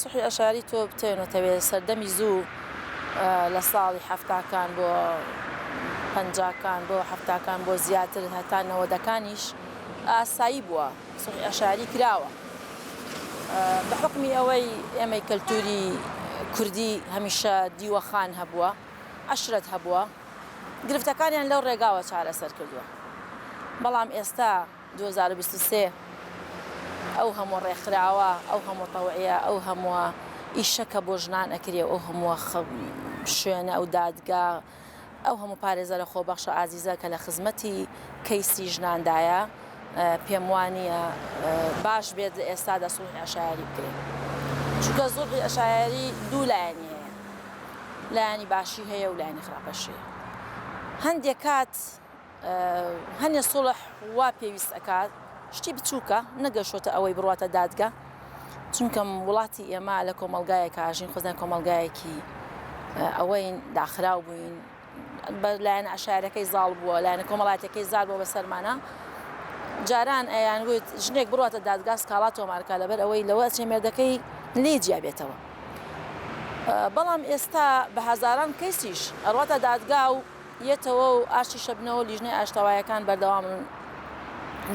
سوحی ئەشاری تۆ بتەوێنەتەوێ سەردەمی زوو لە ساڵی حەفتاکان بۆ پەنجاکان بۆ حەفتاکان بۆ زیاتر هەتا نەوەدەکانیش ئاسایی بووە سوحی ئەشاری کراوە بە حکمی ئەوەی ئێمەی کەلتوری کوردی هەمیشە دیوەخان هەبووە عشرەت هەبووە گرفتەکانیان لەو ڕێگاوە چارەسەر کردووە بەڵام ئێستا دوو هەزار و بیست و سێ ئەو هەمووە ڕێکخراوە ئەو هەمووە تەوعیە ئەو هەمووە ئیشە کە بۆ ژنان ئەکرێ ئەو هەمووە شوێنە ئەو دادگا ئەو هەموو پارێزەرە خۆبەخشە ئازیزە کە لە خزمەتی کەیسی ژناندایە پێم وانە باش بێت لە ئێستادا سوڵحی عشایری بکرێت چونکە زوڵحی عشایری دوو لایەنی هەیە لایەنی باشی هەیە و لایەنی خراپەشی هەندێک کات هەنێ سوڵح وا پێویست ئەکات شتی بچوکە نەگەشتۆتە ئەوەی بڕواتە دادگە چونکە وڵاتی ئێمە لە کۆمەڵگایەکە ژین خۆزان کۆمەڵگایەکی ئەوەین داخراو بووین بە لایەن عشارەکەی زاڵ بووە لایەنە کۆمەڵاتەکەی زار بۆ بەسەرمانە جاران ئەیان وت ژنێک بڕاتە دادگاس کاڵا تۆمارکە لەبەر ئەوەی لەوە چێ مێردەکەی لێ جیابێتەوە بەڵام ئێستا بە هزاران کەسیش ئەڕاتە دادگا و یەتەوە و ئاشتی شەبنەوە و لیژنەی ئاشتەوایەکان بەردەوامن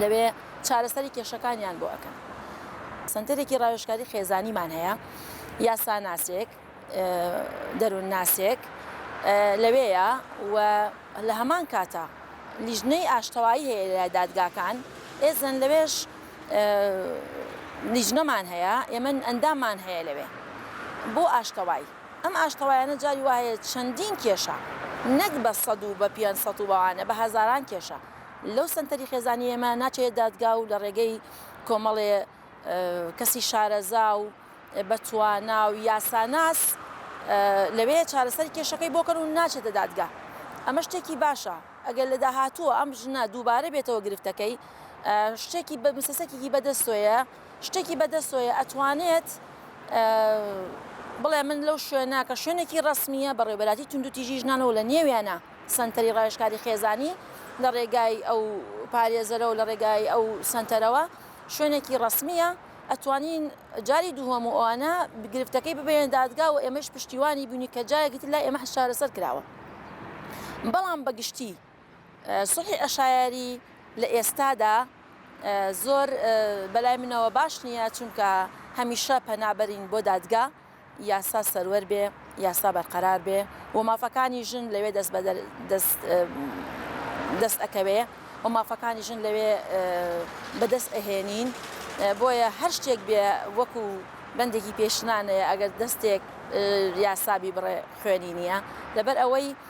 لەوێ چارەسەری کێشەکانیان بۆ ئەکەن. سەنتەرێکی ڕاوێژکاری خێزانیمان هەیە، یاساناسێک، دەروونناسێک لەوێیە و لە هەمان کاتا لیژنەی ئاشتەوایی هەیە لە دادگاکان، ئێزن لەوێش لیژنەمان هەیە، ئێمە ئەنداممان هەیە لەوێ بۆ ئاشتەوایی. ئەم ئاشتەوایانە جاری وا هەیە چەندین کێشە نەک بە سەد و بە پێنج سەد و بەوانە بە هەزاران کێشە لەو سەنتەری خێزانی ئێمە ناچێ دادگا و لە ڕێگەی کۆمەڵێ کەسی شارەزا و بە توانا و یاساناس لەوێ چارەسەری کێشەکەی بۆ کەن و ناچێتە دادگا ئەمە شتێکی باشە ئەگەر لە داهاتووە ئەم ژنە دووبارە بێتەوە گرفتەکەی شتێکی بە مسەسەکیی بەدەستۆیە شتێکی بەدەست تۆیە ئەتوانێت بڵێ من لەو شوێنە کە شوێنێکی ڕسمیە بەڕێبەراتی توندوتیژی ژنانەوە لە نێویانە سنتەری ڕایشکاری خێزانی لە ڕێگای ئەو پارێزەرە و لە ڕێگای ئەو سنتەرەوە شوێنێکی ڕسمیە ئەتوانین جاری دووەم و ئەوانە گرفتەکەی ببێن دادگا و ئێمەش پشتیوانی بینی کە جایەکیتر لای ئێمە شارەسەر کراوە بەڵام بەگشتی سوڵحی عەشایەری لە ئێستادا زۆر بەلای منەوە باش نییە، چونکە هەمیشە پەنا بەرین بۆ دادگا، یاسا سەروەر بێ، یاسا بەرقەرار بێ و مافەکانی ژن لەوێ دەست بە دەست دەست ئەکەوێ و مافەکانی ژن لەوێ بە دەست ئەهێنین، بۆیە هەر شتێک بێ وەکو بەندێکی پێشنانەیە ئەگەر دەستێک یاسا بیبڕێ خوێنی نییە، لەبەر ئەوەی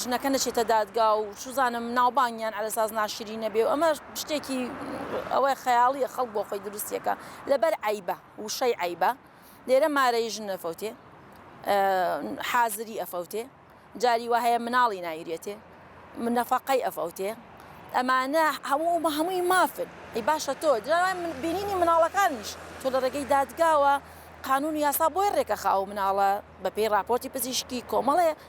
ژنەکە نەچێتە دادگا و چزانم ناوبانگیان ئەلەساز ناشرینە بێ و ئەمە شتێکی ئەوەی خەیاڵیە خەڵک بۆ خۆی دروستیەکە لەبەر عیبە وشەی عیبە لێرە مارەی ژن نەفەوتێ حازری ئەفەوتێ جاری وە هەیە مناڵی نایرێتێ من نەفقەی ئەفەوتێ ئەمانە هەموو بە هەمووی مافن ئەی باشە تۆ جاوای من بینینی مناڵەکانیش تۆ لە ڕێگەی دادگاوە قانون یاسا بۆی ڕێکە خاو مناڵە بەپێی راپۆرتی پزیشکی کۆمەڵێ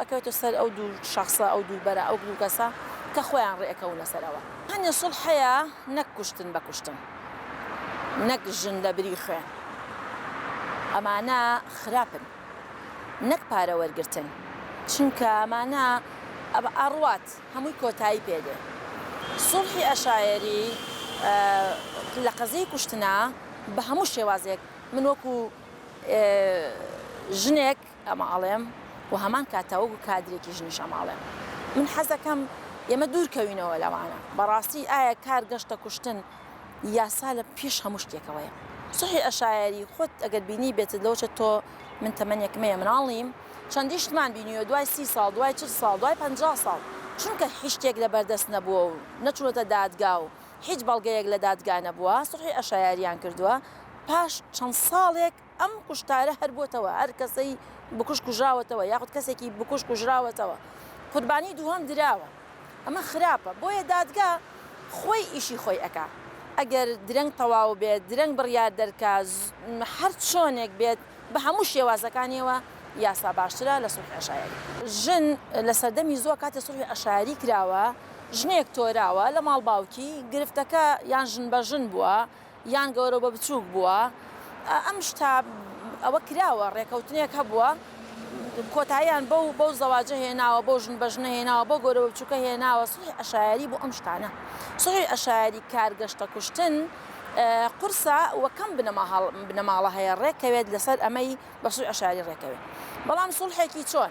ئەکەوێتە سەر ئەو دوو شەخسە ئەو دوو بەرە ئەو دوو کەسە کە خۆیان ڕێ ئەکەونە سەرەوە. هەنێ سوڵح هەیە نەک کوشتن بە کوشتن نەک ژن لە بری خوێن ئەمانە خراپن نەک پارە وەرگرتن چونکە ئەمانە ئەڕوات هەمووی کۆتایی پێ دێ سوڵحی ئەشایەری لە قەزیەی کوشتنە بە هەموو شێوازێک من وەکوو ژنێک ئەماڵێم و هەمان کاتە وەکو کادرێکی ژنیش ئەماڵێم من حەزەکەم ئێمە دوور کەوینەوە لەوانە بەڕاستی ئایا کار گەشتە کوشتن یاسا لە پیش هەموو شتێکەوەیە سحی ئەشایەری خۆت ئەگەر بینی بێتت لەوچە تۆ من تەمەنێک مەیە مناڵیم چەندی شتمان بینیوە دوای سی ساڵ دوای چل ساڵ دوای پ ساڵ چونکە هیچشتێک لە بەردەست نەبووە و نەچونەتە دادگا و هیچ بەڵگەیەک لە دادگا نەبووە سحی ئەشایاریان کردووە پاش چەند ساڵێک ئەم کوشتارە هەر بۆتەوە هەر کەسەی بکوژ کوژراوەتەوە یاخود کەسێکی بکوژ کوژراوەتەوە قوربانی دووهەم دراوە ئەمە خراپە بۆیە دادگا خۆی ئیشی خۆی ئەکا ئەگەر درەنگ تەواو بێت درەنگ بڕیار دەرکا هەر چۆنێک بێت بە هەموو شێوازەکانیەوە یاسا باشترە لە سوڵحی عەشایەری. ژن لە سەردەمی زووە کاتێ سوڵحی عەشایەری کراوە ژنێک تۆراوە لە ماڵ باوکی گرفتەکە یان ژن بە ژن بووە یان گەورە بە بچووک بووە ئەم شتە ئەوە کراوە ڕێکەوتنێک هەبووە کۆتاییان بەو بەو زەواجە هێناوە بۆ ژن بەژنە هێناوە بۆ گەورە بە بچووکە هێناوە سوی ئەشایری بۆ ئەم شتانە سوی ئەشایری کارگەشتە کوشتن قورسە وەکەم بنەما هەڵ بنەماڵە هەیە ڕێکەوێت لەسەر ئەمەی بە سوی ئەشاری ڕێکەوێت بەڵام سوڵحێکی چۆن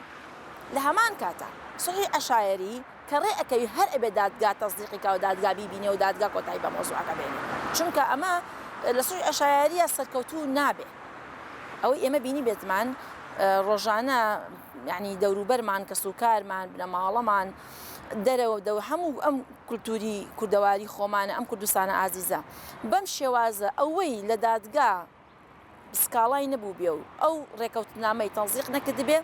لە هەمان کاتە سوی ئەشایری کە ڕێ ئەکەوی هەر ئەبێ دادگا تەسدیقی کا و دادگا بیبینێ و دادگا کۆتایی بە مەوزوعەکە بێنێ چونکە ئەمە لە سوی عەشایەریە سەرکەوتوو نابێ ئەوەی ئێمە بینی بێتمان ڕۆژانە یعنی دەوروبەرمان کەس و کارمان بنەماڵەمان دەرەوە دەو هەموو ئەم کولتوری کوردەواری خۆمانە ئەم کوردستانە ئازیزە بەم شێوازە ئەوەی لە دادگا سکاڵای نەبووبێ و ئەو ڕێکەوتنامەی تەزیق نەکردبێ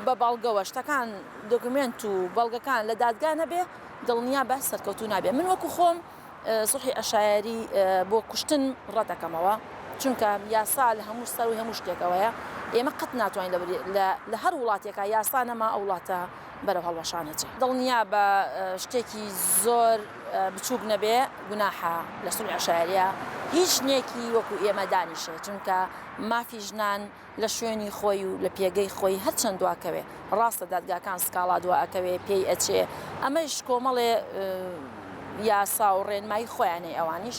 بە بەڵگەوە شتەکان دۆکمێنت و بەڵگەکان لە دادگا نەبێ دڵنیا بە سەرکەوتو نابێ من وەکو خۆم سوحی ئەشایری بۆ کوشتن ڕەتەکەمەوە چونکە یاسا لە هەموو سەر و هەموو شتێکەوەیە ئێمە قەت ناتوانین لە هەر وڵاتێکە یاسا نەما ئەو وڵاتە بەرەو هەڵوەشان ئەچێ دڵنیابە شتێکی زۆر بچووک نەبێ گوناحە لە سول عشارە هیچ نێکی وەکو ئێمە دانیشێ چونکە مافی ژنان لە شوێنی خۆی و لە پێگەی خۆی هەرچەند دواکەوێ ڕاستە دادگاکان سکاڵا دوا ئەکەوێ پێی ئەچێ ئەمەش کۆمەڵێ یاسا و ڕێنمایی خۆیانەی ئەوانیش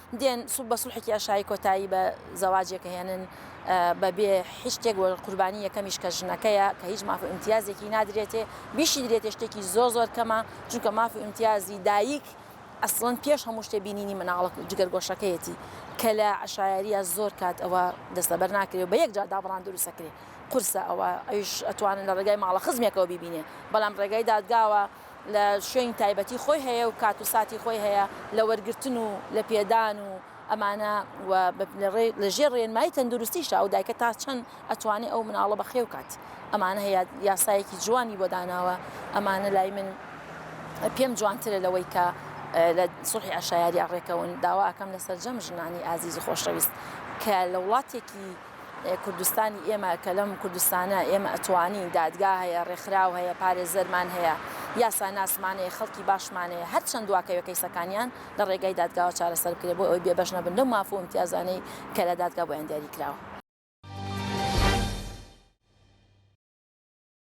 دێن بە سوڵحێکی ئاشایی کۆتایی بە زەواجێک ئەهێنن بە بێ هیچ شتێک و قوربانی یەکەمیش کە ژنەکەیە کە هیچ ماف و ئیمتیازێکی نادرێتێ بیشیدرێتێ شتێکی زۆر زۆر کەمە چونکە ماف و ئیمتیازی دایک ئەسڵەن پێش هەموو شتێ بینینی مناڵک و جگەرگۆشەکەیەتی کە لە عەشایەریە زۆر کات ئەوە دەستەبەر ناکرێ و بە یەکجار دابڕان دروستەکرێ قورسە ئەوە ئەویش ئەتوانن لە ڕێگای ماڵە خزمێکەوە بیبینێ بەڵام ڕێگای دادگاوە لە شوێنی تایبەتی خۆی هەیە و کات و ساتی خۆی هەیە لە وەرگرتن و لە پێدان و ئەمانە و لە ژێر ڕێنمایی تەندروستیشە ئەو دایکە تا چەند ئەتوانێ ئەو مناڵە بە خێو کات ئەمانە هەیە یاسایەکی جوانی بۆ داناوە ئەمانە لای من پێم جوانترە لەوەی کە لە سوحی عشایاری ڕێکەون داوا ئەکەم لە سەرجەم ژنانی ئازیز و خۆشەویست کە لە وڵاتێکی کوردستانی ئێمە کە لەم کوردستانە ئێمە ئەتوانین دادگا هەیە ڕێکخراو هەیە پارێزەرمان هەیە یاساناسمانەیە خەڵکی باشمانەیە هەر چەند دواکەوێت کەیسەکانیان لە ڕێگای دادگاوە چارەسەر بکرێت بۆ ئەوی بێبەش نەبن لەو مافۆ امتیازانەی کە لە دادگا بۆیان دیاری کراوە.